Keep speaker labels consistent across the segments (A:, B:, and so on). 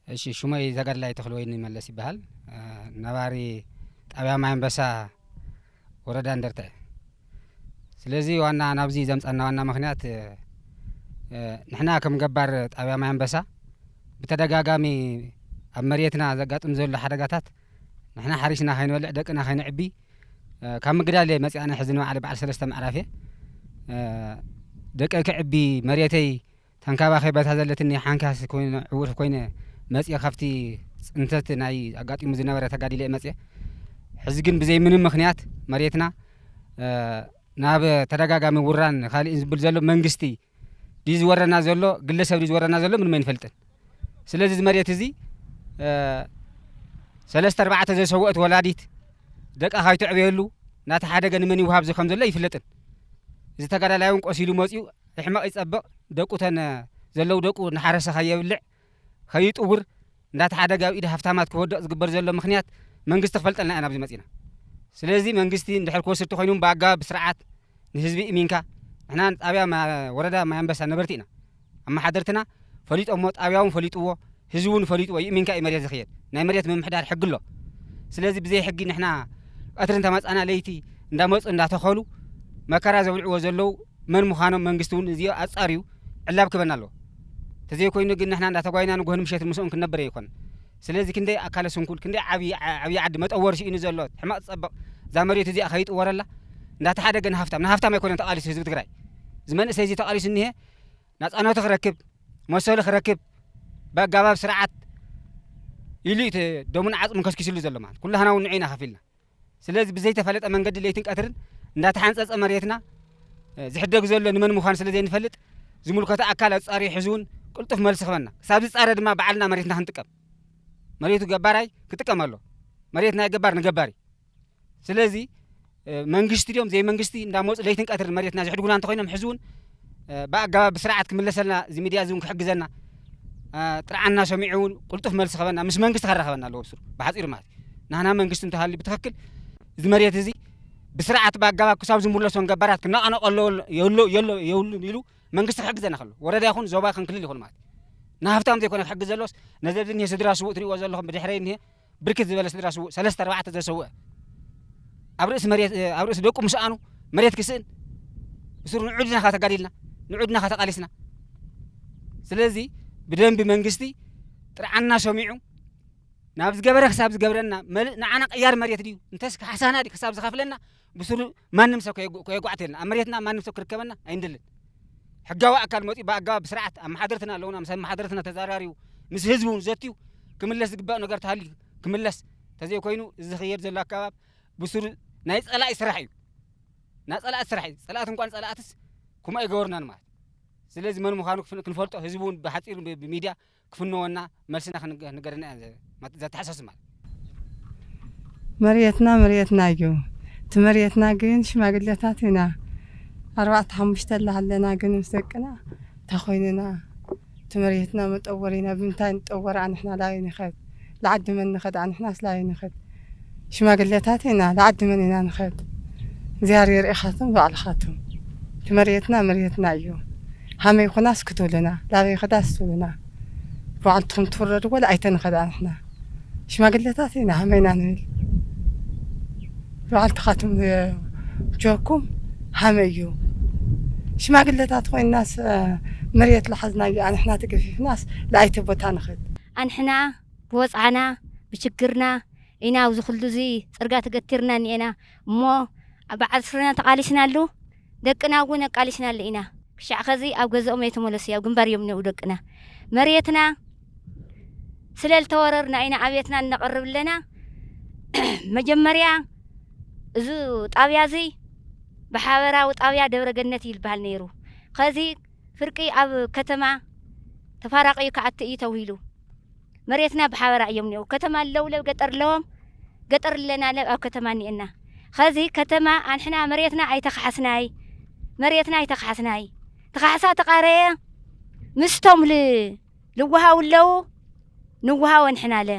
A: እሺ ሹመይ ተጋድላይ ተኽለወይኒ መለስ ይበሃል ነባሪ ጣብያ ማይ ኣንበሳ ወረዳ እንደርታ እዩ። ስለዚ ዋና ናብዚ ዘምፀና ዋና ምክንያት ንሕና ከም ገባር ጣብያ ማይ ኣንበሳ ብተደጋጋሚ ኣብ መሬትና ዘጋጥም ዘሎ ሓደጋታት ንሕና ሓሪስና ከይንበልዕ ደቅና ከይንዕቢ ካብ ምግዳል እየ መፅኣነ ሕዚ ንበዓለ በዓል ሰለስተ ምዕራፍ እየ ደቀይ ክዕቢ መሬተይ ተንከባኺበ እታ ዘለትኒ ሓንካስ ኮይነ ዕዉት ኮይነ መጽየ ካብቲ ጽንተት ናይ ኣጋጢሙ ዝነበረ ተጋዲለ እየ መጽየ ሕዚ ግን ብዘይ ምንም ምኽንያት መሬትና ናብ ተደጋጋሚ ውራን ካልእን ዝብል ዘሎ መንግስቲ ድዩ ዝወረና ዘሎ ግለሰብ ድዩ ዝወረና ዘሎ ምንም ኣይንፈልጥን ስለዚ እዚ መሬት እዚ ሰለስተ ኣርባዕተ ዘሰወእት ወላዲት ደቃ ካይተዕበየሉ ናተሓደገ ንመን ይውሃብ እዚ ከም ዘሎ ኣይፍለጥን እዚ ተጋዳላይ እውን ቆሲሉ መጽዩ ይሕመቕ ይጸብቕ ደቁ ተን ዘለዉ ደቁ እናሓረሰ ከየብልዕ ከይጥውር እንዳተሓደገ ኣብ ኢድ ሃፍታማት ክወድቕ ዝግበር ዘሎ ምኽንያት መንግስቲ ክፈልጠልና ኢና ኣብዚ መጺእና ስለዚ መንግስቲ እንድሕር ክወስድ ተኾይኑ ብኣገባብ ብስርዓት ንህዝቢ እሚንካ ንሕና ጣብያ ወረዳ ማይ ኣንበሳ ነበርቲ ኢና ኣመሓደርትና ፈሊጦሞ ጣብያውን ፈሊጥዎ ህዝቢ እውን ፈሊጥዎ ይእሚንካ እዩ መሬት ዝኽየድ ናይ መሬት ምምሕዳር ሕጊ ኣሎ ስለዚ ብዘይ ሕጊ ንሕና ቐትሪ እንተመፃና ለይቲ እንዳመፁ እንዳተኸሉ መከራ ዘብልዕዎ ዘለው መን ምዃኖም መንግስቲ እውን እዚኦ ኣፃርዩ ዕላብ ክበና ኣለዎ ተዘይኮይኑ ግን ንሕና እንዳተጓይና ንጎህን ምሸትን ምስኦም ክንነብር ኣይኾን ስለዚ ክንደይ ኣካለ ስንኩል ክንደይ ዓብዪ ዓብዪ ዓዲ መጠወሪ ስኢኑ ዘሎ ሕመቕ ዝፀብቕ እዛ መሬቱ እዚኣ ከይጥወረላ እንዳተሓደገ ንሃፍታም ንሃፍታም ኣይኮነን ተቓሊሱ ህዝቢ ትግራይ እዚ መንእሰይ እዚ ተቓሊሱ እኒሀ ናፃነቱ ክረክብ መሰሉ ክረክብ ብኣጋባብ ስርዓት ኢሉ እዩ ደሙን ዓፅሙን ከስኪስሉ ዘሎ ማለት ኩላህና እውን ንዑ ኢና ከፊልና ስለዚ ብዘይተፈለጠ መንገዲ ለይትን ቀትርን እንዳተሓንፀፀ መሬትና ዝሕደግ ዘሎ ንመን ምዃኑ ስለ ዘይንፈልጥ ዝምልከቶ ኣካል ኣፃሪዩ ሕዚ እውን ቅልጡፍ መልሲ ክበና ክሳብ ዝፃረ ድማ ባዕልና መሬትና ክንጥቀም መሬቱ ገባራይ ክጥቀም ኣሎ መሬት ናይ ገባር ንገባሪ ስለዚ መንግስቲ ድዮም ዘይመንግስቲ እንዳመፁ ለይትን ቀትርን መሬትና ዝሕድጉና እንተኮይኖም ሕዚ እውን ብኣገባብ ብስርዓት ክምለሰልና እዚ ሚድያ እዚ እውን ክሕግዘና ጥርዓና ሰሚዑ እውን ቁልጡፍ መልሲ ከበና ምስ መንግስቲ ከራኸበና ኣለዎ ብስሩ ብሓፂሩ ማለት ናህና መንግስቲ እንተሃልዩ ብትክክል እዚ መሬት እዚ ብስርዓት ብኣገባብ ክሳብ ዝምለሶን ገባራት ክነቐነቆ ኣለዎ የብሉን ኢሉ መንግስቲ ክሕግዘና ከሎ ወረዳ ይኹን ዞባ ክንክልል ይኹን ማለት ንሃብታም ዘይኮነ ክሕግዝ ዘሎስ ነዚ ኣብዚ እኒሀ ስድራ ስቡእ ትሪእዎ ዘለኹም ብድሕረይ እኒሀ ብርክት ዝበለ ስድራ ስውእ ሰለስተ ኣርባዕተ ዘሰውእ ኣብ ርእሲ መሬት ኣብ ርእሲ ደቁ ምስኣኑ መሬት ክስእን እሱር ንዑድና ካ ተጋዲልና ንዑድና ካ ተቃሊስና ስለዚ ብደንቢ መንግስቲ ጥርዓና ሰሚዑ ናብ ዝገበረ ክሳብ ዝገብረና መልእ ንዓና ቅያር መሬት ድዩ እንተስ ካሕሳና ድዩ ክሳብ ዝኸፍለና ብስሩ ማንም ሰብ ከየጓዕተልና ኣብ መሬትና ማንም ሰብ ክርከበና ኣይንደልን። ሕጋዊ ኣካል መፂኡ ብኣገባብ ብስርዓት ኣመሓደርትና ኣለውና ምስ ኣመሓደርትና ተዛራሪቡ ምስ ህዝቢ እውን ዘትዩ ክምለስ ዝግባእ ነገር ተሃልዩ ክምለስ ተዘይኮይኑ እዚ ዝኸየድ ዘሎ ኣካባብ ብስሩ ናይ ፀላኢ ስራሕ እዩ ናይ ፀላእት ስራሕ እዩ ፀላእት እንኳን ፀላእትስ ከምኡ ኣይገበርናን ማለት ስለዚ መን ምዃኑ ክንፈልጦ ህዝቢ እውን ብሓፂሩ ብሚድያ ክፍነወና መልስና ክንገደና እያ ዘተሓሳስብ ማለት። መርየትና
B: መርየትና እዩ እቲ መርየትና ግን ሽማግሌታት ኢና ኣርባዕተ ሓሙሽተ ኣለና ግን ምስ ደቅና ታኾይንና እቲ መርየትና መጠወሪና ብምንታይ ንጠወራ ኣንሕና ላዩ ንኸድ ልዓዲ መን ንኸድ ኣንሕናስ ላዩ ንኸድ ሽማግሌታት ኢና ልዓዲ መን ኢና ንኸድ እግዚኣቢሄር የርኢኻትም ባዕልኻትም እቲ መርየትና መርየትና እዩ ሃመይ ኹናስ ክትብሉና ላበይ ኸዳስ ትብሉና ብባዕልትኹም ትፍረዱ ወላ ኣይተንኸድ ኣንሕና ሽማግሌታት ኢና ሃመይ ኢና ንብል ባዕልትኻትም ጆኩም ሃመይ እዩ ሽማግሌታት ኮይናስ መርየት ልሓዝናዮ ኣንሕና ተገፊፍናስ ልኣይተ ቦታ ንኸድ ኣንሕና
C: ብወጽዓና ብችግርና ኢና ኣብዚ ኩሉ እዚ ጽርጋ ተገቲርና እኒኤና እሞ ኣብ በዓል ስረና ተቃሊስናሉ ደቅና እውን ኣቃሊስናሉ ኢና ክሻዕ ከዚ ኣብ ገዘኦም ኣይተመለሱይ ኣብ ግንባር እዮም እኒኦው ደቅና መርየትና ስለ ልተወረርና ኢና ኣብየትና እነቅርብ ኣለና መጀመርያ እዙ ጣብያ እዙይ ብሓበራዊ ጣብያ ደብረ ገነት እዩ ልበሃል ነይሩ ከዚ ፍርቂ ኣብ ከተማ ተፋራቂዩ ክኣቲ እዩ ተውሂሉ መሬትና ብሓበራ እዮም ኒኦው ከተማ ኣለው ለብ ገጠር ለዎም ገጠር ኣለና ለብ ኣብ ከተማ ኒኤና ኸዚ ከተማ ኣንሕና መሬትና ኣይተካሓስናይ መሬትና ኣይተካሓስናይ ትካሕሳ ተቃረየ ምስቶም ል ልዋሃው ለው ንዋሃው ኣንሕና ለ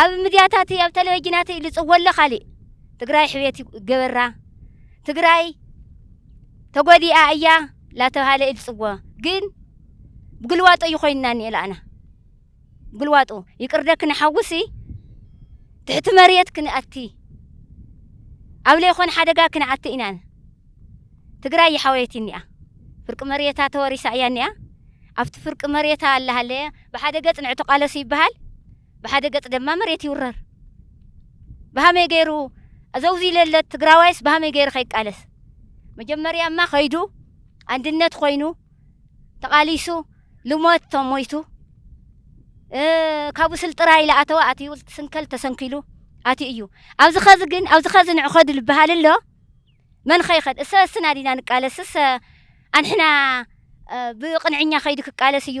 C: ኣብ ምድያታትይ ኣብ ተለቨጅናትይ ልጽወለ ካሊእ ትግራይ ሕቤት ይገበራ ትግራይ ተጎዲኣ እያ ላተብሃለ ይልጽዎ ግን ብግልዋጦ እዩ ኮይንና ኒኤላእና ብግልዋጦ ይቅርደ ክንሓውሲ ትሕቲ መሬት ክንኣቲ ኣብ ለይኮን ሓደጋ ክንኣቲ ኢናን ትግራይ ይሓወየት እኒኣ ፍርቂ መሬታ ተወሪሳ እያ እኒኣ ኣብቲ ፍርቂ መሬታ ኣላሃለየ ብሓደ ገፅ ንዕትቃለስ ይበሃል ብሓደ ገፅ ደማ መሬት ይውረር ብሃመይ ገይሩ ኣዘውዚ ለለት ትግራዋይስ ብሃመይ ገይሩ ከይቃለስ መጀመርያማ ከይዱ ኣንድነት ኮይኑ ተቃሊሱ ልሞት ተሞይቱ ካብኡ ስልጥራ ኢለ ኣተወ ኣትዩ ስንከል ተሰንኪሉ ኣትዩ እዩ ኣብዚ ኸዚ ግን ኣብዚ ኸዚ ንዕኸዱ ዝበሃል ኣሎ መን ኸይኸድ እሰ እስና ዲና ንቃለስ እሰ ኣንሕና ብቅንዕኛ ከይዱ ክቃለስ እዩ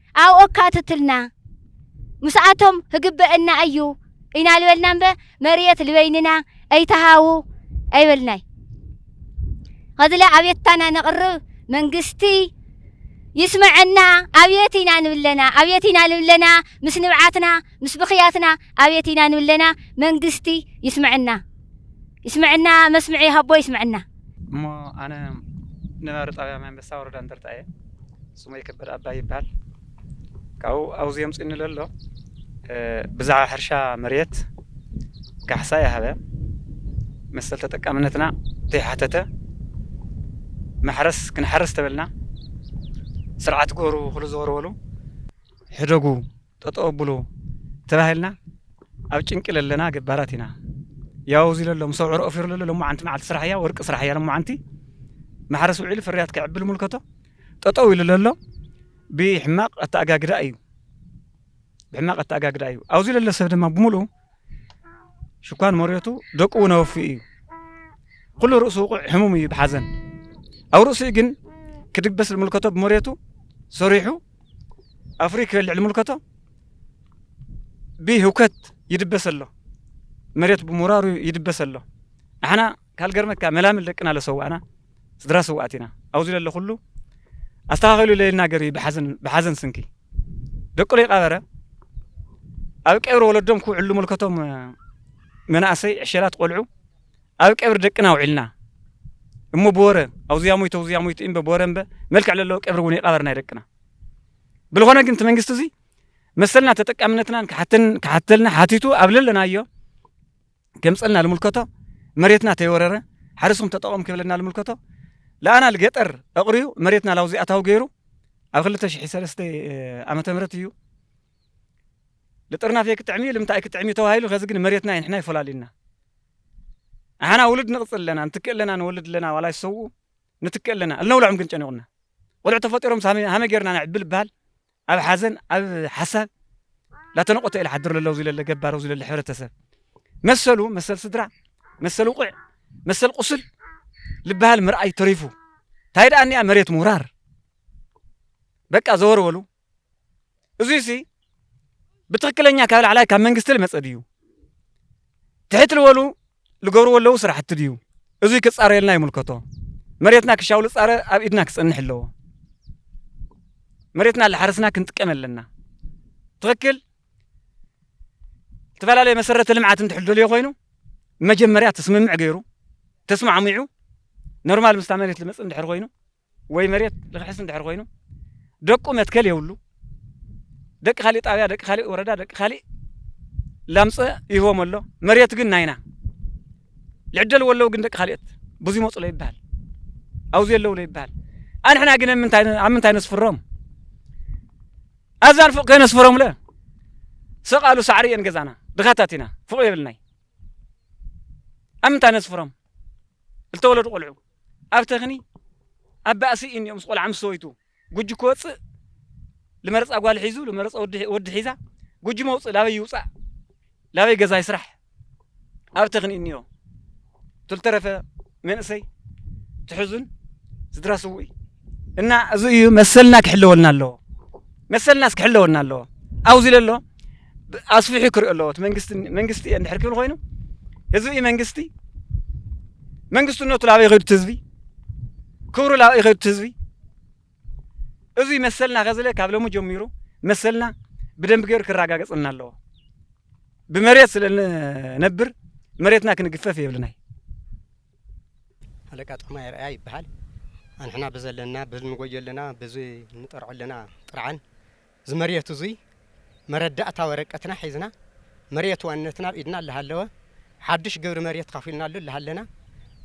C: ኣብ ኦካትትልና ምስኣቶም ህግበእና እዩ ኢና ልበልና እምበ መርየት ልበይንና ኣይትሃቡ ኣይበልናይ ኸዝለ ኣብየትታና ነቕርብ መንግስቲ ይስመዐና ኣብየት ኢና ንብለና ኣብየት ኢና ልብለና ምስ ንብዓትና ምስ ብኽያትና ኣብየት ኢና ንብለና መንግስቲ ይስመዐና ይስመዐና መስምዒ ይሃቦ ይስመዐና። እሞ ኣነ
D: ነባሪ ጣብያ ማይ ኣንበሳ ወረዳ እንደርታ እየ። ስመይ ከበደ ኣባይ ይበሃል። ካብኡ ኣብዚ ኣምፂኡኒ ለሎ ብዛዕባ ሕርሻ መሬት ካሕሳ ይሃበ መሰል ተጠቃምነትና ዘይሓተተ ማሕረስ ክንሓርስ ተበልና ስርዓት ገሩ ክሉ ዘወርወሉ ሕደጉ ጠጠው ኣብሉ ተባሂልና ኣብ ጭንቂ ለለና ገባራት ኢና ያው እዚ ለሎ ምስ ኣውዕሮ ኦፊሩ ለሎ ሎማዓንቲ መዓልቲ ስራሕ እያ ወርቂ ስራሕ እያ ሎማዓንቲ ማሕረስ ውዒሉ ፍርያት ከዕብል ምልከቶ ጠጠው ኢሉ ለሎ ብሕማቕ ኣተኣጋግዳ እዩ ብሕማቕ ኣተኣጋግዳ እዩ ኣብዚ ለሎ ሰብ ድማ ብምሉኡ ሽኳን መሬቱ ደቁ እውን ኣወፍኡ እዩ። ኩሉ ርእሱ ውቑዕ ሕሙም እዩ ብሓዘን ኣብ ርእሲኡ ግን ክድበስ ልምልከቶ ብመሬቱ ሰሪሑ ኣፍሪ ክበልዕ ልምልከቶ ብህውከት ይድበስ ኣሎ መሬት ብምውራሩ ይድበስ ኣሎ ኣሕና ካልገርመካ መላምል ደቅና ለሰዋእና ስድራ ስውኣት ኢና ኣውዚ ለሎ ኩሉ ኣስተኻኺሉ ለይልና ገርሂ ብሓዘን ብሓዘን ስንኪ ደቁ ለይቃበረ ኣብ ቀብሪ ወለዶም ክውዕሉ ምልከቶም መናእሰይ ዕሸላት ቆልዑ ኣብ ቀብሪ ደቅና ውዒልና እሞ ብወረ ኣውዚያ ሞይቶ ኣውዚያ ሞይቶ እምበ ብወረ እምበ መልክዕ ለለዎ ቀብሪ እውን ይቃበር ናይ ደቅና ብልኾነ ግን እቲ መንግስቲ እዚ መሰልና ተጠቃምነትናን ክሓተልና ሓቲቱ ኣብ ለለናዮ ገምጸልና ልምልከቶ መሬትና ተይወረረ ሓርስኩም ተጠቐሙ ክብለና ልምልከቶ ለኣና ልገጠር ኣቕርዩ መሬትና ላውዚ ኣታዊ ገይሩ ኣብ ክልተ ሽሒ ሰለስተ ዓመተ ምህረት እዩ ልጥርናፍ ኣይክጥዕም እዩ ልምንታይ ኣይክጥዕም እዩ ተባሂሉ ከዚ ግን መሬትና እዩ ንሕና ይፈላልዩና ኣሓና ውሉድ ንቕፅል ኣለና ንትክእ ኣለና ንወልድ ኣለና ዋላ ይሰውኡ ንትክእ ኣለና እልነውልዖም ግን ጨኒቑና ቆልዑ ተፈጢሮም ሃመ ጌርና ነዕቢ ልበሃል ኣብ ሓዘን ኣብ ሓሳብ ላተነቆተ ኢለ ሓድር ለለው ዝለለ ገባረው ዝለለ ሕብረተሰብ መሰሉ መሰል ስድራ መሰል ውቕዕ መሰል ቁስል ልበሃል ምርኣይ ተሪፉ እንታይ ደኣ እኒኣ መሬት ምውራር በቃ ዘወርወሉ እዙይ ሲ ብትክክለኛ ካብ ላዕላይ ካብ መንግስቲ ልመፀ ድዩ ትሕት ልበሉ ልገብርዎ ለዉ ስራሕቲ ድዩ እዙይ ክፃረየልና ይምልከቶ መሬትና ክሻዉ ልፃረ ኣብ ኢድና ክፀንሕ ኣለዎ መሬትና ላሓረስና ክንጥቀም ኣለና ትክክል ልትፈላለየ መሰረተ ልምዓት እንድሕር ደልዮ ኮይኑ መጀመርያ ትስምምዕ ገይሩ ተስማዕሚዑ ኖርማል ምስታ መሬት ልመፅእ እንድሕር ኮይኑ ወይ መሬት ልክሕስ እንድሕር ኮይኑ ደቁ መትከል የብሉ ደቂ ካሊእ ጣብያ ደቂ ካሊእ ወረዳ ደቂ ካሊእ ላምፀ ይህቦም ኣሎ መሬት ግን ናይና ልዕደል ወለው ግን ደቂ ካልኦት ብዙ ይመፁ ሎ ይበሃል ኣብዚ የለው ሎ ይበሃል ኣንሕና ግን ኣብ ምንታይ ነስፍሮም ኣብዛን ፎቅ ከነስፍሮም ለ ሰቃሉ ሳዕሪ እየን ገዛና ድኻታት ኢና ፎቅ የብልናይ ኣብ ምንታይ ነስፍሮም ዝተወለዱ ቆልዑ ኣብ ተክኒ ኣብ ባእሲ ኢንዮ ምስ ቆልዓ ምስ ሰበይቱ ጉጂ ክወጽእ ልመረጻ ጓል ሒዙ ልመረጻ ወዲ ሒዛ ጉጂ መውጽእ ላበይ ይውጻእ ላበይ ገዛ ይስራሕ ኣብ ተክኒ ኢንዮ ትልተረፈ መንእሰይ ትሕዙን ስድራ ስውእ እና እዚ እዩ መሰልና ክሕለወልና ኣለዎ መሰልናስ ክሕለወና ኣለዎ ኣብዚ ለሎ ኣስፊሑ ክሪኦ ኣለዎ እቲ መንግስቲ መንግስቲ እየ እንድሕር ክብል ኮይኑ ህዝቢ እዩ መንግስቲ መንግስትነቱ ላበይ ይኸዱ እቲ ህዝቢ ክብሩ ላበይ ይኸዱ እቲ ህዝቢ እዚ መሰልና ከዝለ ካብ ሎሚ ጀሚሩ መሰልና ብደንብ ገይሩ ክረጋገፅና ኣለዎ ብመሬት ስለነብር መሬትና ክንግፈፍ የብልናይ
E: ሃለቃ ጥዑማይ ኣርኣያ ይበሃል። ኣንሕና ብዘለና ብንጎዮ ኣለና ብዚ ንጠርዖ ኣለና ጥርዓን እዚ መርየት እዙይ መረዳእታ ወረቀትና ሒዝና መርየት ዋንነትና ኣብ ኢድና ኣለሃለወ ሓዱሽ ግብሪ መርየት ካፊልናሉ ኣለሃለና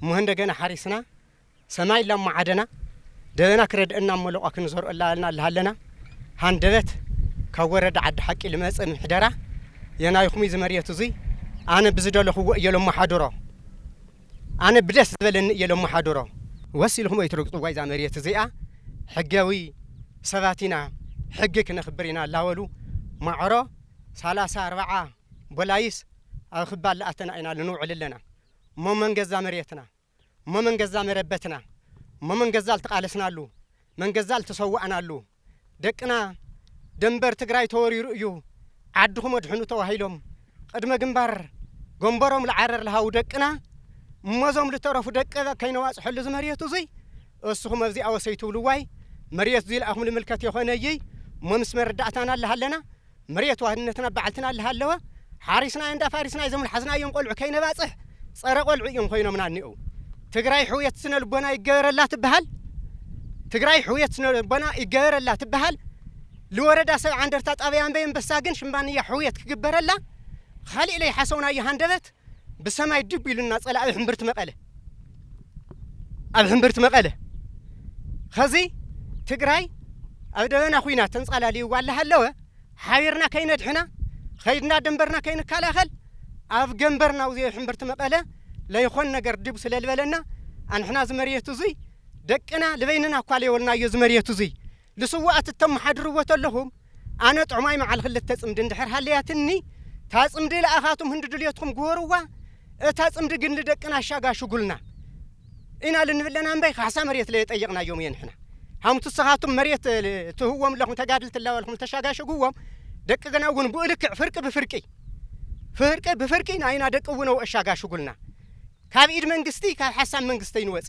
E: እሞ እንደገና ሓሪስና ሰማይ ላማዓደና ደበና ክረድአና መለቋ ክንዘርኦ ኣላልና ኣለሃለና ሃንደበት ካብ ወረዳ ዓዲ ሓቂ ልመጽእ ምሕደራ የናይኹም እዚ መሬት እዙይ ኣነ ብዝደለኹዎ እየ ሎማሓድሮ ኣነ ብደስ ዝበለኒ እየ ለማሓድሮ። ወስ ኢልኩም ኣይትረግጽዋ ኢዛ መርየት እዚኣ ሕገዊ ሰባት ኢና ሕጊ ክነኽብር ኢና ላበሉ ማዕሮ ሳላሳ ኣርባዓ ቦላይስ ኣብ ክባል ላኣተና ኢና ልንውዕል ኣለና እሞ መን ገዛ መርየትና እሞ መን ገዛ መረበትና እሞ መን ገዛ ልተቃለስናሉ መን ገዛ ልተሰዋእናሉ ደቅና ደንበር ትግራይ ተወሪሩ እዩ ዓድኹም ኣድሕኑ ተባሂሎም ቕድመ ግንባር ጎንበሮም ልዓረር ልሃቡ ደቅና እሞ እዞም ልተረፉ ደቂ ከይነዋፅሐሉ እዚ መሬቱ እዙይ እስኹም ኣብዚኣ ወሰይ ትብልዋይ መሬት እዙይ ልኣኹም ልምልከት የኾነይይ እሞ ምስ መረዳእታና ልሃለና መሬት ዋህነትና ባዕልትና እላሃለወ ሓሪስናዮ እንዳ ፋሪስና እዞም ልሓዝናዮም ቆልዑ ከይነባፅሕ ፀረ ቆልዑ እዮም ኮይኖምና እኒኦው ትግራይ ሕውየት ስነ ልቦና ይገበረላ ትበሃል ትግራይ ሕውየት ስነ ልቦና ይገበረላ ትበሃል ልወረዳ ሰብዓ እንደርታ ጣብያ ኣንበይ ኣንበሳ ግን ሽምባንያ ሕውየት ክግበረላ ኻሊእ ለይሓሰውናዮ ሃንደበት ብሰማይ ድብ ኢሉና ጸላኢ ሕምብርቲ መቐለ ኣብ ሕምብርቲ መቐለ ኸዚ ትግራይ ኣብ ደበና ኹይና ተንጻላልይዋ ኣለሃለወ ሓቢርና ከይነድሕና ኸይድና ደንበርና ከይንከላኸል ኣብ ገንበርና ውዘዮ ሕምብርቲ መቐለ ለይኾን ነገር ድብ ስለልበለና ኣንሕና ዝመርየት እዙይ ደቅና ልበይንና እኳ ለየወልናዮ ዝመርየት እዙይ ልስዉኣት እተመሓድርዎ ተለኹም፣ ኣነ ጥዑማይ መዓል ክልተ ጽምዲ እንድሕር ሃለያትኒ፣ እታ ጽምዲ ለኣኻቱም ህንዲ ድልዮትኩም ግበሩዋ፣ እታ ጽምዲ ግን ልደቅና ኣሻጋ ሽጉልና ኢና ልንብል ለና እምበይ ካሕሳ መሬት ለየጠየቕናዮም እየ ንሕና። ሃምቱ እሰኻቱም መሬት ትህብዎም ለኹም ተጋድልቲ እላበልኩም እተሻጋሸግዎም ደቂ ገና እውን ብኡ ልክዕ ፍርቂ ብፍርቂ ፍርቂ ብፍርቂ ናይና ደቂ እውነው ኣሻጋሽጉልና ካብ ኢድ መንግስቲ ካብ ሓሳብ መንግስተይ ንወጺ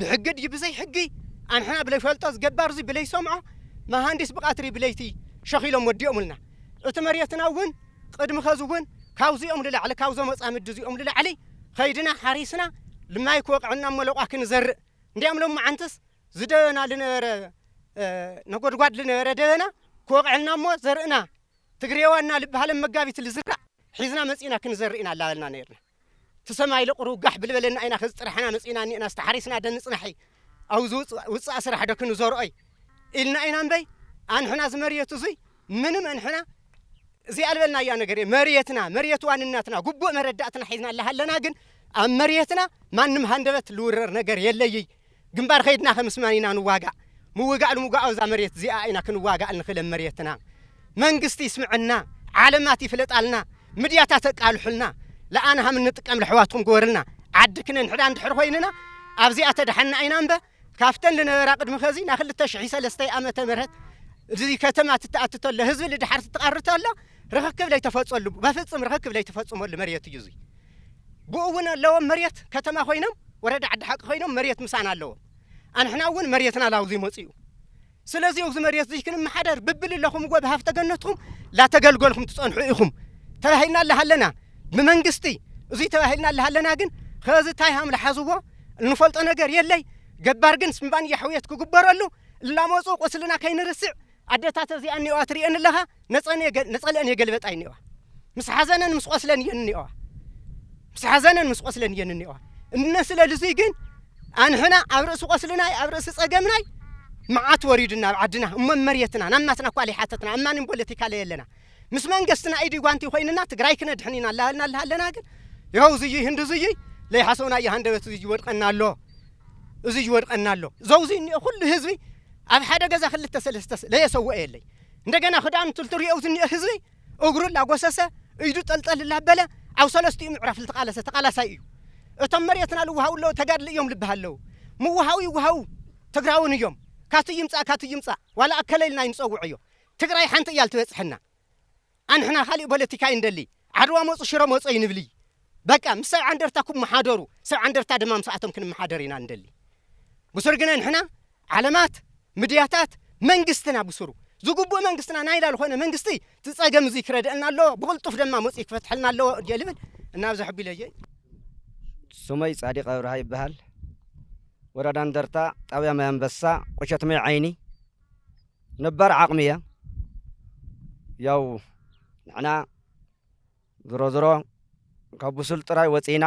E: ብሕጊ ድዩ ብዘይ ሕጊ ኣንሕና ብለይፈልጦ ዝገባር እዙይ ብለይሰምዖ መሃንዲስ ብቀትሪ ብለይቲ ሸኺሎም ወዲኦምልና እቲ መሬትና እውን ቅድሚ ኸዚ እውን ካብዚኦም ልላዕሊ ካብዞም መፃምዲ እዚኦም ልላዕሊ ኸይድና ሓሪስና ልማይ ክወቅዐና እሞ ለቋ ክንዘርእ እንዲያም ሎማዓንትስ ዝደበና ልነበረ ነጎድጓድ ልነበረ ደበና ክወቅዐልና እሞ ዘርእና ትግሬዋና ልብሃለም መጋቢት ልዝራእ ሒዝና መፂእና ክንዘርእ ኢና ላበልና ነይርና እቲ ሰማይ ለቑሩ ጋሕ ብልበለና ኢና ከዚ ጥራሕና መጺእና እኒኤናስ ተሓሪስና ዶ ንጽናሒ ኣውዚ ውጽኣ ስራሕ ዶ ክንዘርኦይ ኢልና ኢና እምበይ ኣንሕና እዚ መርየት እዙይ ምንም ኣንሕና ዘይኣልበልናያ ነገር መርየትና መርየት ዋንነትና ጉቡእ መረዳእትና ሒዝና ኣለሃለና ግን ኣብ መርየትና ማንም ሃንደበት ልውረር ነገር የለይይ ግንባር ከይድና ከምስማን ኢና ንዋጋእ ምውጋእ ልምጓኦ እዛ መሬት እዚኣ ኢና ክንዋጋእ ንክል ኣብ መሬትና መንግስቲ ይስምዐና ዓለማት ይፍለጣልና ምድያታት ኣቃልሑልና ለኣን ሃም እንጥቀም ለሕዋትኩም ግበርልና ዓዲ ክነንሕዳ እንድሕር ኮይንና ኣብዚኣ ተድሓና ኢና እምበ ካፍተን ልነበራ ቅድሚ ከዚ ና ክልተ ሽሒ ሰለስተይ ኣመተ ምህረት እዚ ከተማ ትተኣቲ ተሎ ህዝቢ ልድሓር ትትቐሪ ተሎ ርኽክብ ለይተፈጸሉ በፍጽም ርኽክብ ለይተፈጽመሉ መሬት እዩ እዙይ ብኡ እውን ኣለዎም መሬት ከተማ ኮይኖም ወረዳ ዓዲ ሓቂ ኮይኖም መሬት ምሳና ኣለዎም ኣንሕና እውን መሬትና ላብዙ ይመፁ እዩ ስለዚ እብዚ መሬት እዙይ ክንመሓደር ብብልለኹምዎ ብሃፍተ ገነትኹም ላተገልገልኹም ትፀንሑ ኢኹም ተባሂልና ኣለሃለና ብመንግስቲ እዙይ ተባሂልና ኣለሃለና ግን ከዚ ታይ ሃም ልሓዝዎ እንፈልጦ ነገር የለይ ገባር ግን ስምባን ያሕውየት ክግበረሉ እላመፁ ቁስልና ከይንርስዕ ኣደታት እዚኣን እኔዋ ትሪኤን ኣለኻ ነፀለአን የገልበጣ እኔዋ ምስ ሓዘነን ምስ ቆስለን እየን እኔዋ ምስ ሓዘነን ምስ ቆስለን እየን እኔዋ እነ ስለልዙይ ግን ኣንሕና ኣብ ርእሲ ቆስልናይ ኣብ ርእሲ ፀገምናይ መዓት ወሪዱና ኣብ ዓድና እሞ መሬትና ናብ ናትና እኳ ዘይሓተትና ኣብ ማንም ፖለቲካ ለይ ኣለና ምስ መንግስትና ኢዲ ጓንቲ ኮይንና ትግራይ ክነድሕን ኢና ላሃልና ኣለሃለና ግን ይኸው እዙይ ህንዲ እዙይ ለይሓሰውና እየ ሃንደበት እዙይ ይወድቀና ኣሎ እዙይ ይወድቀና ኣሎ ዘውዙይ እኒኦ ኩሉ ህዝቢ ኣብ ሓደ ገዛ ክልተ ሰለስተ ለየ ሰውኦ የለይ እንደገና ክዳኑ ትልትርዮኡ ዝኒኦ ህዝቢ እግሩ እላጎሰሰ ኢዱ ጠልጠል እላበለ ኣብ ሰለስቲኡ ምዕራፍ ልተቃለሰ ተቃላሳይ እዩ እቶም መሬትና ልውሃቡ ኣለዉ ተጋድል እዮም ልብሃል ኣለዉ ምውሃቡ ይውሃቡ ትግራውን እዮም ካቱይ ይምፃእ ካቱይ ይምፃእ ዋላ ኣከለ ኢልና ኣይንፀውዖዮ ትግራይ ሓንቲ እያ ልትበፅሐና ኣንሕና ካሊእ ቦለቲካ ኣይንደልይ ዓድዋ መጹ ሽረ መጹ ኣይንብልይ በቃ ምስ ሰብዓ እንደርታ ኩብ ምሓደሩ ሰብዓ እንደርታ ድማ ምስኣቶም ክንምሓደር ኢና ንደሊ ብሱር ግነ ንሕና ዓለማት ምድያታት መንግስትና ብሱሩ ዝጉቡእ መንግስትና ናይላ ልኾነ መንግስቲ ዝጸገም እዙይ ክረድአና ኣለዎ ብቕልጡፍ ደማ መጹ ክፈትሐልና ኣለዎ እየ ልብል እናብዚ ሕቢለየ
F: ስመይ ጻዲቅ ኣብርሃ ይበሃል ወረዳ እንደርታ ጣብያ ማይ ኣንበሳ ቁሸት ማይ ዓይኒ ነባር ዓቅሚ እያ ያው ንሕና ዝሮ ዝሮ ካብ ብሱል ጥራይ ወጺእና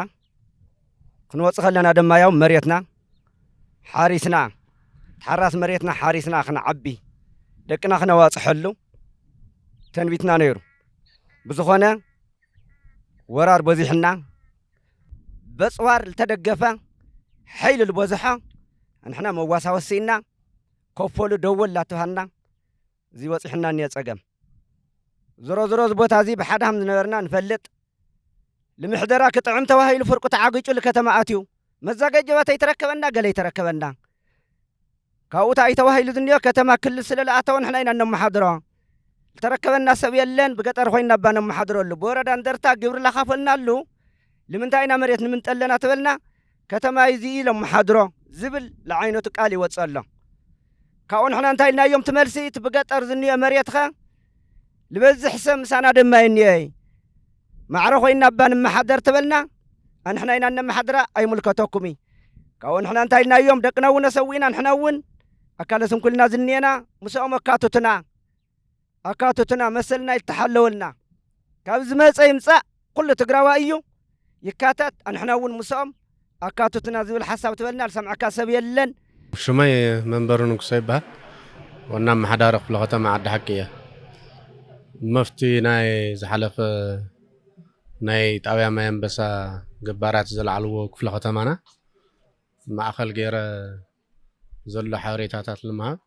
F: ክንወጽእ ከለና ድማ ያው መሬትና ሓሪስና ሓራስ መሬትና ሓሪስና ክንዓቢ ደቅና ክነዋጽሐሉ ተንቢትና ነይሩ ብዝኾነ ወራር በዚሕና በጽዋር ዝተደገፈ ሓይሊ ዝበዝሖ ንሕና መዋሳወሲና ከፎሉ ደወል ላተውሃልና እዚ በጺሑና እኒኦ ጸገም። ዝሮ ዝሮ እዚ ቦታ እዚ ብሓደ ሃም ዝነበርና ንፈልጥ። ልምሕደራ ክጥዕም ተባሂሉ ፍርቁ ተዓጊጩ ልከተማ ኣትዩ። መዛገጀባ ተይተረከበና ገለ ይተረከበና። ካብኡ ታኣይ ተባሂሉ ዝኒኦ ከተማ ክልል ስለ ልኣተወ ንሕና ኢና እነመሓድሮ። ልተረከበና ሰብ የለን ብገጠር ኮይና እባ ነመሓድረሉ። ብወረዳ እንደርታ ግብሪ ላኻፈልናሉ ልምንታይ ኢና መሬት ንምንጠ ኣለና ተበልና ከተማይ እዚ እዩ ኢሎም ምሓድሮ ዝብል ልዓይነቱ ቃል ይወጽእ ኣሎ። ካብኡ ንሕና እንታይ ኢልናዮም እቲ መልሲ እቲ ብገጠር ዝንኦ መሬትኸ ልበዝሕ ሰብ ምሳና ደማ ይንኦ እይ ማዕረ ኮይና እባ ንመሓደር ተበልና ኣንሕና ኢና እነመሓድራ ኣይምልከተኩም እይ ካብኡ ንሕና እንታይ ኢልናዮም ደቅና እውን ኣሰዊእና ንሕና እውን ኣካለ ስንኩልና ዝንኤና ምስኦም ኣካትቱና ኣካቶትና መሰልና ይተሓለወልና ካብ ዝመፀ ይምፃእ ኩሉ ትግራዋይ እዩ ይካተት ኣንሕና እውን ምስኦም ኣካቶትና ዝብል ሓሳብ ትበልና ዝሰምዐካ ሰብ የለን ሽመይ
G: መንበሩ ንጉሰ ይበሃል ዋና ኣመሓዳሪ ክፍለ ከተማ ዓዲ ሓቂ እየ መፍቲ ናይ ዝሓለፈ ናይ ጣብያ ማይ ኣንበሳ ገባራት ዘለዓልዎ ክፍለ ከተማና ማእኸል ገይረ ዘሎ ሓበሬታታት ንምሃብ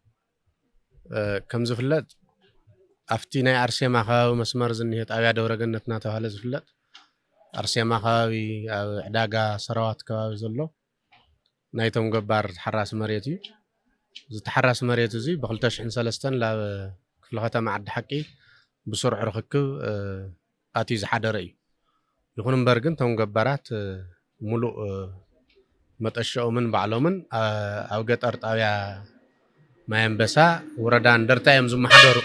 G: ከም ዝፍለጥ ኣብቲ ናይ ኣርሴማ ከባቢ መስመር ዝኒሀ ጣብያ ደብረገነት እናተባህለ ዝፍለጥ ኣርሴማ ከባቢ ኣብ ዕዳጋ ሰራዋት ከባቢ ዘሎ ናይቶም ገባር ተሓራሲ መሬት እዩ እዚ ተሓራሲ መሬት እዚ ብ2003 ላብ ክፍለ ከተማ ዓዲ ሓቂ ብስሩዕ ርኽክብ ኣትዩ ዝሓደረ እዩ። ይኹን እምበር ግን እቶም ገባራት ሙሉእ መጠሸኦምን ባዕሎምን ኣብ ገጠር ጣብያ ማይኣንበሳ ውረዳ እንደርታ እዮም ዝመሓደሩ።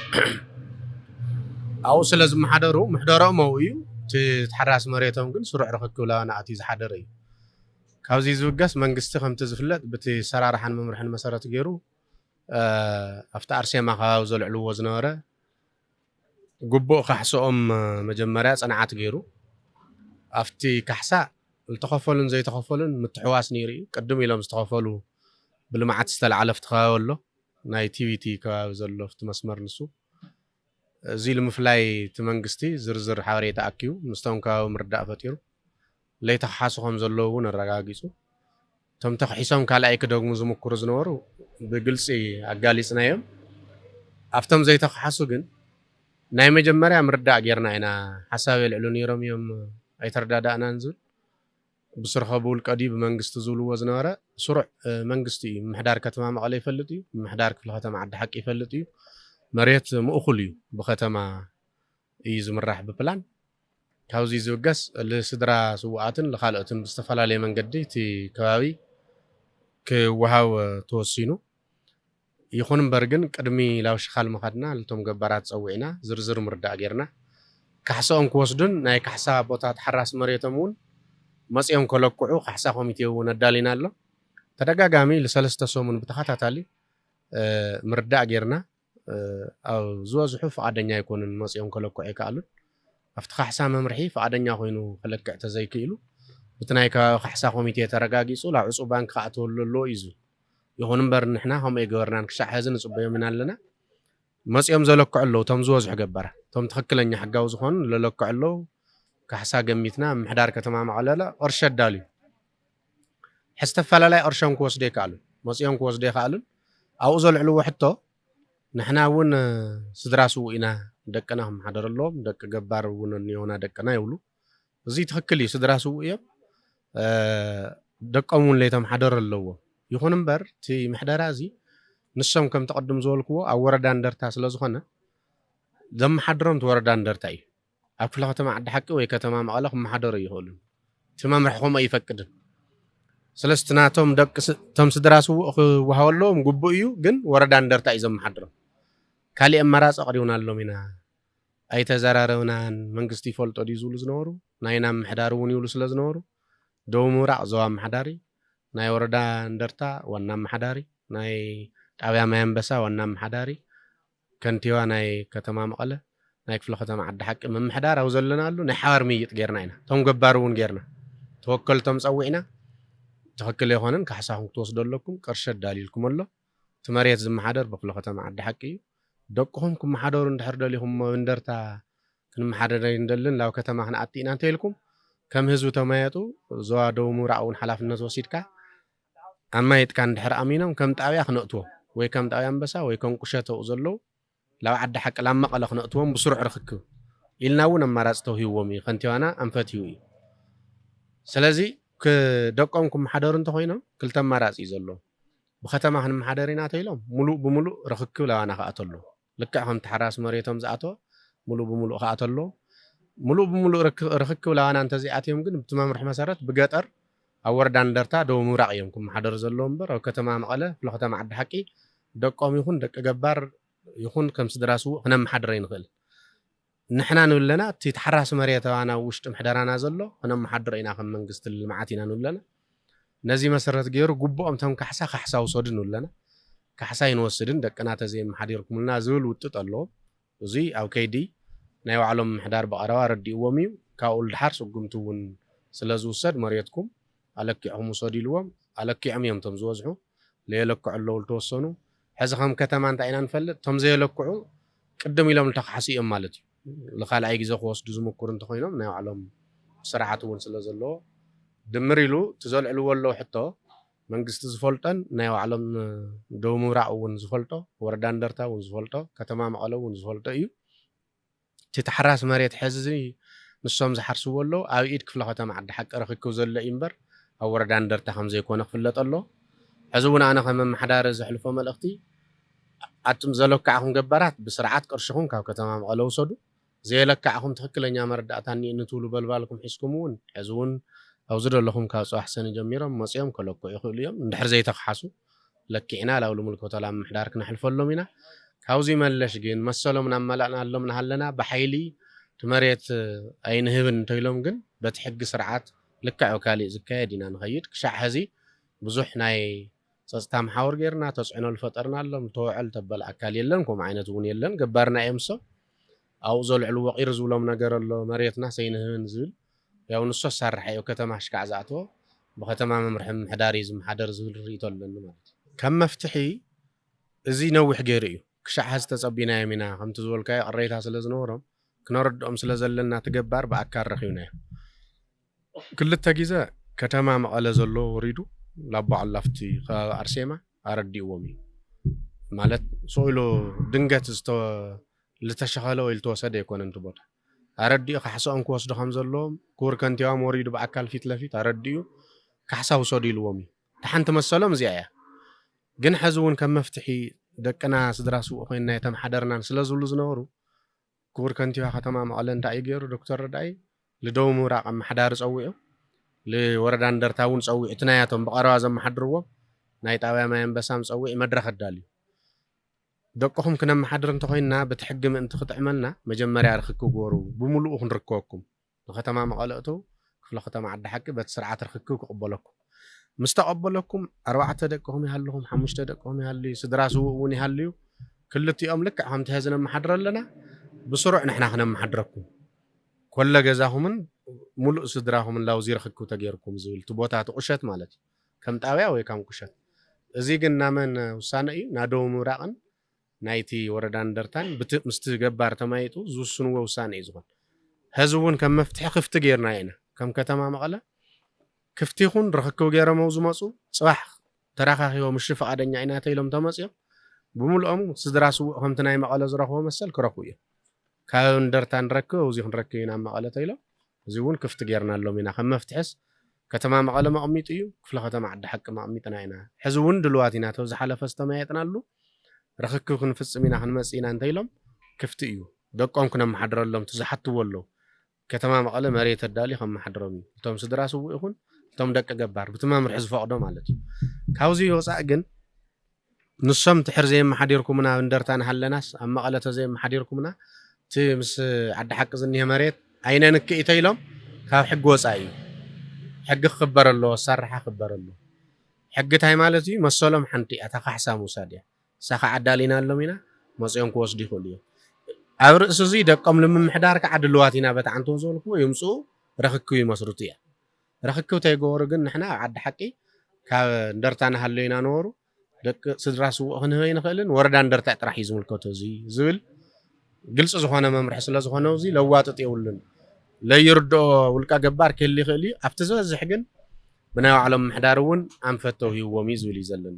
G: ኣብኡ ስለ ዝመሓደሩ ምሕደረኦም ኣብኡ እዩ። እቲ ተሓራሲ መሬቶም ግን ስሩዕ ርኽክብ ላባና ኣትዩ ዝሓደረ እዩ። ካብዚ ዝብገስ መንግስቲ ከምቲ ዝፍለጥ ብቲ ኣሰራርሓን መምርሕን መሰረት ገይሩ ኣብቲ ኣርሴማ ከባቢ ዘልዕልዎ ዝነበረ፣ ግቡእ ካሕስኦም መጀመርያ ፅንዓት ገይሩ ኣፍቲ ካሕሳ ልተኸፈሉን ዘይተኸፈሉን ምትሕዋስ ነይሩ እዩ። ቅድም ኢሎም ዝተኸፈሉ ብልምዓት ዝተልዓለ ኣፍቲ ከባቢ ኣሎ። ናይ ቲቪቲ ከባቢ ዘሎ ኣፍቲ መስመር ንሱ። እዙይ ልምፍላይ እቲ መንግስቲ ዝርዝር ሓበሬታ ኣኪቡ ምስቶም ከባቢ ምርዳእ ፈጢሩ ለይቲ ክሓሱ ከም ዘለዉ እውን ኣረጋጊጹ። እቶም ተኽሒሶም ካልኣይ ክደግሙ ዝምኩሩ ዝነበሩ ብግልጺ ኣጋሊጽናዮም። ኣብቶም ዘይተኽሓሱ ግን ናይ መጀመርያ ምርዳእ ጌርና ኢና፣ ሓሳብ የልዕሉ ነይሮም እዮም ኣይተረዳዳእናን ዝብል ብስርሖ ብውልቀ ድዩ ብመንግስቲ ዝብልዎ ዝነበረ ስሩዕ መንግስቲ እዩ። ምምሕዳር ከተማ መቐለ ይፈልጥ እዩ፣ ምምሕዳር ክፍለ ከተማ ዓዲ ሓቂ ይፈልጥ እዩ፣ መሬት ምእኹል እዩ ብከተማ እዩ ዝምራሕ ብፕላን። ካብዙይ ዝብገስ ልስድራ ስውኣትን ልኻልኦትን ብዝተፈላለየ መንገዲ እቲ ከባቢ ክወሃብ ተወሲኑ። ይኹን እምበር ግን ቅድሚ ላብ ሽኻል ምኻድና ልቶም ገባራት ፀዊዕና ዝርዝር ምርዳእ ገይርና። ካሕሰኦም ክወስዱን ናይ ካሕሳ ቦታ ተሓራሲ መሬቶም እውን መፂኦም ከለቅዑ ካሕሳ ኮሚቴ እውን ኣዳሊና ኣሎ። ተደጋጋሚ ልሰለስተ ሰሙን ብተኸታታሊ ምርዳእ ገይርና። ኣብ ዝበዝሑ ፍቓደኛ ኣይኮኑን መጺኦም ከለክዑ ኣይክኣሉን። ኣብቲ ካሕሳ መምርሒ ፍቓደኛ ኮይኑ ከለክዕ ተዘይክኢሉ ብቲ ናይ ከባቢ ካሕሳ ኮሚቴ ተረጋጊጹ ላብ ዕጹው ባንኪ ክኣትወሉ ኣለዎ እዩ ዝብል። ይኹን እምበር ንሕና ከምኡ ኣይገበርናን ክሻዕ ሐዚ ንጽበዮም ኢና ኣለና። መጺኦም ዘለክዑ ኣለዉ እቶም ዝበዝሑ ገባራት። እቶም ትኽክለኛ ሕጋዊ ዝኾኑ ለለክዑ ኣለዉ። ካሕሳ ገሚትና ምምሕዳር ከተማ መቐለ ቅርሺ ኣዳልዩ። ሕዝተፈላለይ ቕርሾም ክወስዱ የከኣሉን መጺኦም ክወስዱ የኸኣሉን ኣብኡ ዘልዕልዎ ሕቶ ንሕና እውን ስድራ ስውእ ኢና ደቅና ክመሓደሩ ኣለዎም ደቂ ገባር እውን እኒኦና ደቅና ይብሉ እዚ ትክክል እዩ ስድራ ስውእ እዮም ደቆም እውን ለይተመሓደሩ ኣለዎም ይኹን እምበር እቲ ምሕደራ እዚ ንሶም ከም ተቐድም ዝበልክዎ ኣብ ወረዳ እንደርታ ስለ ዝኾነ ዘመሓድሮም እቲ ወረዳ እንደርታ እዩ ኣብ ክፍለ ከተማ ዓዲ ሓቂ ወይ ከተማ መቐለ ክመሓደሩ ኣይኽእሉን። እቲ መምርሒ ከምኡ ኣይፈቅድን። ስለዚ እቲ ናቶም ደቂ እቶም ስድራ ስዉእ ክወሃበሎም ግቡእ እዩ፣ ግን ወረዳ እንደርታ እዩ ዘመሓድሮም። ካሊእ ኣማራፂ ኣቕሪብናሎም ኢና፣ ኣይተዘራረብናን፣ መንግስቲ ይፈልጦ ድዩ ዝብሉ ዝነበሩ፣ ናይና ምምሕዳር እውን ይብሉ ስለዝነበሩ፣ ደቡብ ምብራቕ ዞባ ኣመሓዳሪ፣ ናይ ወረዳ እንደርታ ዋና ኣመሓዳሪ፣ ናይ ጣብያ ማይ ኣንበሳ ዋና ኣመሓዳሪ፣ ከንቲባ ናይ ከተማ መቐለ፣ ናይ ክፍለ ከተማ ዓዲ ሓቂ ምምሕዳር ኣብ ዘለናሉ ናይ ሓባር ምይይጥ ገይርና ኢና። እቶም ገባሪ እውን ገይርና። ተወከልቶም ፀዊዕና ትኽክል ኣይኾነን ካሕሳኹም ክትወስዱ ኣለኩም፣ ቅርሺ ኣዳልዩልኩም ኣሎ፣ እቲ መሬት ዝመሓደር ብክፍለ ከተማ ዓዲ ሓቂ እዩ፣ ደቅኹም ክመሓደሩ እንድሕር ደሊኹም እሞ ኣብ እንደርታ ክንመሓደር ኣይንደልን ናብ ከተማ ክንኣቲ ኢና እንተይልኩም ከም ህዝቢ ተመያየጡ፣ ዞባ ደቡብ ምብራቕ እውን ሓላፍነት ወሲድካ ኣማይትካ እንድሕር ኣሚኖም ከም ጣብያ ክነእትዎም ወይ ከም ጣብያ ኣንበሳ ወይ ከም ቁሸት ኣብኡ ዘለዉ ላብ ዓዲ ሓቂ ላብ መቐለ ክነእትዎም ብስሩዕ ርኽክብ ኢልና እውን ኣማራፂ ተውሂብዎም እዩ ከንቲባና ኣንፈትዩ እዩ ስለዚ ክ ደቆም ክመሓደሩ እንተኾይኖም ክልተ ኣማራፂ እዩ ዘለዎም ብከተማ ክንመሓደር ኢና ተይሎም ሙሉእ ብሙሉእ ርኽክብ ላባና ክኣቱ ኣለዎ። ልክዕ ከም ተሓራሲ መሬቶም ዝኣተወ ምሉእ ብምሉእ ክኣትው ኣለዎ። ምሉእ ብምሉእ ርኽክብ ላባና እንተዘይኣትዮም ግን ብቲ መምርሒ መሰረት ብገጠር ኣብ ወረዳ እንደርታ ደቡብ ምብራቕ እዮም ክመሓደሩ ዘለዎም እምበር ኣብ ከተማ መቐለ ክፍለ ከተማ ዓዲ ሓቂ ደቆም ይኹን ደቂ ገባር ይኹን ከም ስድራ ስዉእ ክነመሓድር ኣይንኽእልን። ንሕና ንብለና እቲ ተሓራሲ መሬታውያን ኣብ ውሽጢ ምሕደራና ዘሎ ክነመሓድሮ ኢና ከም መንግስቲ ልምዓት ኢና ንብለና ነዚ መሰረት ገይሩ ጉቡኦም እቶም ካሕሳ ካሕሳ ውሰዱ ንብለና ካሕሳ ኣይንወስድን ደቅና ተዘይመሓዲርኩምልና ዝብል ውጥጥ ኣለዎም እዙይ ኣብ ከይዲ ናይ ባዕሎም ምምሕዳር ብቐረባ ኣረዲእዎም እዩ ካብኡ ልድሓር ስጉምቲ እውን ስለዝውሰድ መሬትኩም ኣለኪዕኹም ውሰዱ ኢልዎም ኣለኪዖም እዮም እቶም ዝበዝሑ ለየለክዑ ኣለዉ ልተወሰኑ ሕዚ ከም ከተማ እንታይ ኢና ንፈልጥ እቶም ዘየለክዑ ቅድም ኢሎም ልተካሕሱ እዮም ማለት እዩ ልካልኣይ ግዜ ክወስዱ ዝምኩር እንተኾይኖም ናይ ባዕሎም ስርዓት እውን ስለ ዘለዎ ድምር ኢሉ እቲ ዘልዕልዎ ኣለዉ ሕቶ መንግስቲ ዝፈልጦን ናይ ባዕሎም ደቡብ ምብራቅ እውን ዝፈልጦ ወረዳ እንደርታ እውን ዝፈልጦ ከተማ መቐለ እውን ዝፈልጦ እዩ እቲ ተሓራሲ መሬት ሐዚ ንሶም ዝሓርስዎ ኣለው ኣብ ኢድ ክፍለ ከተማ ዓዲ ሓቂ ርኽክብ ዘሎ እዩ እምበር ኣብ ወረዳ እንደርታ ከምዘይኮነ ክፍለጥ ኣለዎ። ሐዚ እውን ኣነ ከም ኣመሓዳሪ ዘሕልፎ መልእኽቲ ኣቱም ዘለካዕኹም ገባራት ብስርዓት ቅርሽኹም ካብ ከተማ መቐለ ውሰዱ። ዘየለካዕኹም ትኽክለኛ መረዳእታ እኒኤኒ ትብሉ በልባልኩም ሒዝኩም እውን ሐዚ እውን ኣብዚ ደለኹም ካብ ፅባሕ ሰኒ ጀሚሮም መፂኦም ከለክዑ ይኽእሉ እዮም እንድሕር ዘይተኽሓሱ። ለኪዕና ላብ ልምልከቶ ላብ ምሕዳር ክነሕልፈሎም ኢና ካብዙይ መለሽ ግን መሰሎም ናመላእናሎም ናሃለና ብሓይሊ እቲ መሬት ኣይንህብን እንተይሎም ግን በቲ ሕጊ ስርዓት ልክዕ ብካሊእ ዝካየድ ኢና ንኸይድ ክሻዕ ሀዚ ብዙሕ ናይ ፀፅታ መሓውር ገይርና ተፅዕኖ ልፈጠርናሎም ልተወዐል ተበል ኣካል የለን ከምኡ ዓይነት እውን የለን ገባርና እዮምሶ ኣብኡ ዘልዕልዎ ቂር ዝብሎም ነገር ኣሎ መሬትናስ ኣይንህብን ዝብል ያው ንሱ ኣሳራሒ ኣብ ከተማ ኣሽካዕ ዝኣተወ ብከተማ መምርሒ ምምሕዳር እዩ ዝመሓደር ዝብል ሪኢቶ ኣለኒ ማለት እዩ። ከም መፍትሒ እዚ ነዊሕ ገይሩ እዩ ክሻዕ ሐዚ ተፀቢናዮም ኢና ከምቲ ዝበልካዮ ቅሬታ ስለ ዝነበሮም ክነረድኦም ስለ ዘለና እቲ ገባር ብኣካል ረኪብናዮ ክልተ ግዘ ከተማ መቐለ ዘሎ ወሪዱ ላቦዓሉ ኣብቲ ከባቢ ኣርሴማ ኣረዲእዎም እዩ ማለት ስቅኢሉ ድንገት ልተሸኸለ ወይ ልተወሰደ ኣይኮነን እቲ ቦታ ኣረዲኡ ካሕሰኦም ክወስዱ ከም ዘለዎም ክቡር ከንቲባም ወሪዱ ብኣካል ፊት ለፊት ኣረዲኡ ካሕሳ ውሰዱ ኢልዎም እዩ እታ ሓንቲ መሰሎም እዚኣ እያ ግን ሐዚ እውን ከም መፍትሒ ደቅና ስድራ ስውእ ኮይንና የተምሓደርናን ስለዝብሉ ዝነበሩ ክቡር ከንቲባ ከተማ መቐለ እንታይ እዩ ገይሩ ዶክተር ረዳኢ ልደቡብ ምብራቕ ኣመሓዳሪ ፀዊዑ ልወረዳ እንደርታ እውን ፀዊዑ እቲ ናያቶም ብቐረባ ዘመሓድርዎም ናይ ጣብያ ማይ ኣንበሳም ፀዊዑ መድረኽ ኣዳልዩ ደቅኹም ክነመሓድር እንተኾይንና በቲ ሕጊ ምእንቲ ክጥዕመልና መጀመርያ ርኽክብ ግበሩ ብምሉኡ ክንርከበኩም ንከተማ መቐለ እተዉ ክፍለ ከተማ ዓዲ ሓቂ በቲ ስርዓት ርኽክብ ክቕበለኩም ምስ ተቐበለኩም ኣርባዕተ ደቅኹም ይሃልኹም ሓሙሽተ ደቅኹም ይሃልዩ ስድራ ስዉእ እውን ይሃልዩ ክልቲኦም ልክዕ ከምቲ ሐዚ ነመሓድሮ ኣለና ብስሩዕ ንሕና ክነመሓድረኩም ኮለ ገዛኹምን ሙሉእ ስድራኹምን ላውዚ ርኽክብ ተገይርኩም ዝብል እቲ ቦታ እቲ ቁሸት ማለት እዩ ከም ጣብያ ወይ ካም ቁሸት እዙይ ግን ናመን ውሳነ እዩ ናደቡብ ምብራቅን ናይቲ ወረዳ እንደርታን ብቲ ምስቲ ገባር ተማይጡ ዝውስንዎ ውሳነ እዩ ዝኮን ሀዚ እውን ከም መፍትሒ ክፍቲ ገይርናዮ ኢና ከም ከተማ መቀለ ክፍቲ ይኩን ርክክብ ገይረመው ዝመፁ ፅባሕ ተራካኪቦም እሺ ፍቃደኛ ኢና ተይሎም ተመፅዮም ብሙሉኦም ስድራ ስውእ ከምቲ ናይ መቀለ ዝረክቦ መሰል ክረክቡ እዮም ካብ እንደርታ ንረክብ ኣውዚ ክንረክብ ኢና ኣብ መቀለ ተይሎም እዙይ እውን ክፍቲ ገይርናሎም ኢና ከም መፍትሕስ ከተማ መቐለ መቕሚጡ እዩ፣ ክፍለ ከተማ ዓዲ ሓቂ መቕሚጥና ኢና፣ ሕዚ እውን ድሉዋት ኢና፣ እቲ ኣብ ዝሓለፈ ዝተመያየጥናሉ ርኽክብ ክንፍፅም ኢና ክንመፅእ ኢና እንተኢሎም ክፍቲ እዩ፣ ደቆም ክነመሓድረሎም ትዝሓትዎ ኣለው፣ ከተማ መቐለ መሬት ኣዳልዩ ከመሓድሮም እዩ፣ እቶም ስድራ ስውእ ይኹን እቶም ደቂ ገባር፣ ብቲ መምርሒ ዝፈቕዶ ማለት እዩ፣ ካብዙይ ወፃእ ግን ንሶም ድሕር ዘየመሓዲርኩምና ኣብ እንደርታ ንሃለናስ ኣብ መቐለ ተዘየመሓዲርኩምና እቲ ምስ ዓዲ ሓቂ ዝኒሀ መሬት ኣይነንክእ ኢተይሎም ካብ ሕጊ ወፃኢ እዩ ሕጊ ክክበር ኣለዎ ኣሳራሓ ክክበር ኣለዎ ሕጊ ታይ ማለት እዩ መሰሎም ሓንቲ እያ እታ ካሕሳ ምውሳድ እያ እሳ ከዓ ኣዳሊናሎም ኢና መፅኦም ክወስዱ ይክእሉ እዮም ኣብ ርእሲ እዙይ ደቆም ልምምሕዳር ከዓ ድልዋት ኢና በቲ ዓንተው ዝበልክዎ ይምፅኡ ረክክብ ይመስርቱ እያ ርኽክብ ተይገበሩ ግን ንሕና ኣብ ዓዲ ሓቂ ካብ እንደርታ ንሃሎ ኢና ነበሩ ደቂ ስድራ ስዉእ ክንህብ ኣይንኽእልን ወረዳ እንደርታ ጥራሕ እዩ ዝምልከቶ እዚ ዝብል ግልፂ ዝኾነ መምርሒ ስለ ዝኾነ እዚ ለዋጥጥ የብሉን ለይርድኦ ውልቀ ገባር ክህል ይኽእል እዩ ኣብቲ ዝበዝሕ ግን ብናይ ባዕሎም ምሕዳር እውን ኣንፈት ተውሂብዎም እዩ ዝብል እዩ ዘለኒ